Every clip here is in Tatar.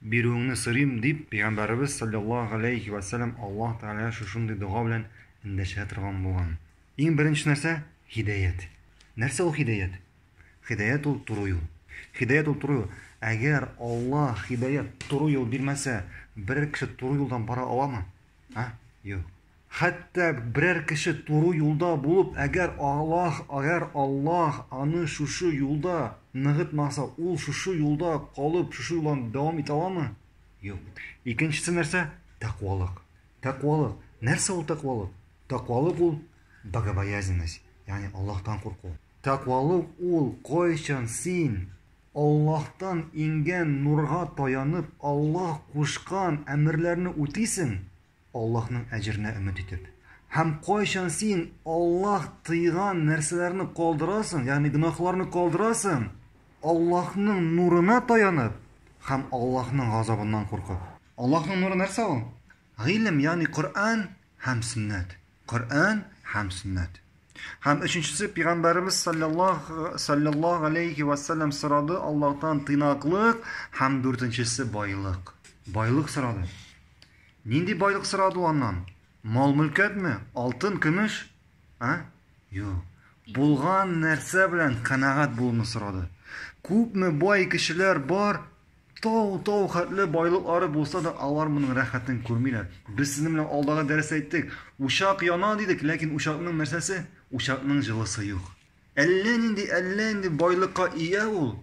бирүеңне сорыйм, дип, Пәйгамбәребез, салләллаһу галәйһи вә сәлләм, Аллаһ Тәгаләгә шушындый дога белән эндәшә торган булган. Иң беренче нәрсә, һидаять. Нәрсә ул һидаять? Һидаять ул туры юл. Һидаять ул туры юл. Әгәр Аллаһ һидаять, туры юл бирмәсә, берәр кеше туры юлдан бара аламы? А? Юк. Хәтта берәр кеше туры юлда булып, әгәр Аллаһ, әгәр Аллаһ аны шушы юлда ныгытмаса, ул шушы юлда калып, шушы юлдан дәвам итә аламы? Юк. Икенчесе нәрсә? Тәкъвалык. Тәкъвалык. Нәрсә ул тәкъвалык? Тәкъвалык ул богобоязненность, ягъни Аллаһтан курку. Тәкъвалык ул кайчан син Аллаһтан иңгән нурга таянып, Аллаһ кушкан әмерләрне үтисең, Аллаһның әҗеренә өмет итеп. Һәм кайчан син Аллаһ тыйган нәрсәләрне калдырасың, ягъни гөнаһларны калдырасың, Аллаһның нурына таянып һәм Аллаһның газабыннан куркып. Аллаһның нуры нәрсә ул? Гыйлем, ягъни Коръән һәм Сөннәт. Коръән һәм сөннәт. Һәм өченчесе пигамбарыбыз саллаллаһу саллаллаһу алейхи ва саллям сорады Аллаһтан тыйнаклык һәм дүртенчесе байлык. Байлык сорады. Нинди байлык сорады аннан? Мал мөлкәтме? Алтын, көмеш? А? Юк. Булган нәрсә белән канагат булуны сорады. Күпме бай кешеләр бар, Тау-тау хәтле байлыклары булса да, алар моның рәхәтен күрмиләр. Без сезнең белән алдагы дәрестә әйттек, учак яна дидек, ләкин учакның нәрсәсе? Учакның җылысы юк. Әллә нинди, әллә нинди байлыкка ия ул,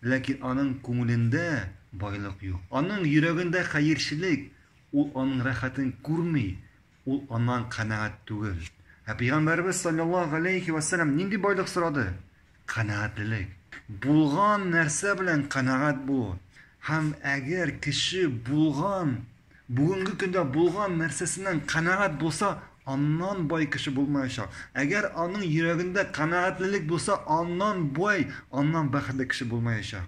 ләкин аның күңелендә байлык юк. Аның йөрәгендә хәерчелек, ул аның рәхәтен күрми. Ул аннан канәгать түгел. Ә Пәйгамбәребез салләллаһу галәйһи вә сәлләм нинди байлык сорады? Канәгатьлелек. Булган нәрсә белән канәгать булу. Һәм әгәр кеше булган, бүгенге көндә булган нәрсәсеннән канәгать булса, аннан бай кеше булмаячак. Әгәр аның йөрәгендә канәгатьлелек булса, аннан бай, аннан бәхетле кеше булмаячак.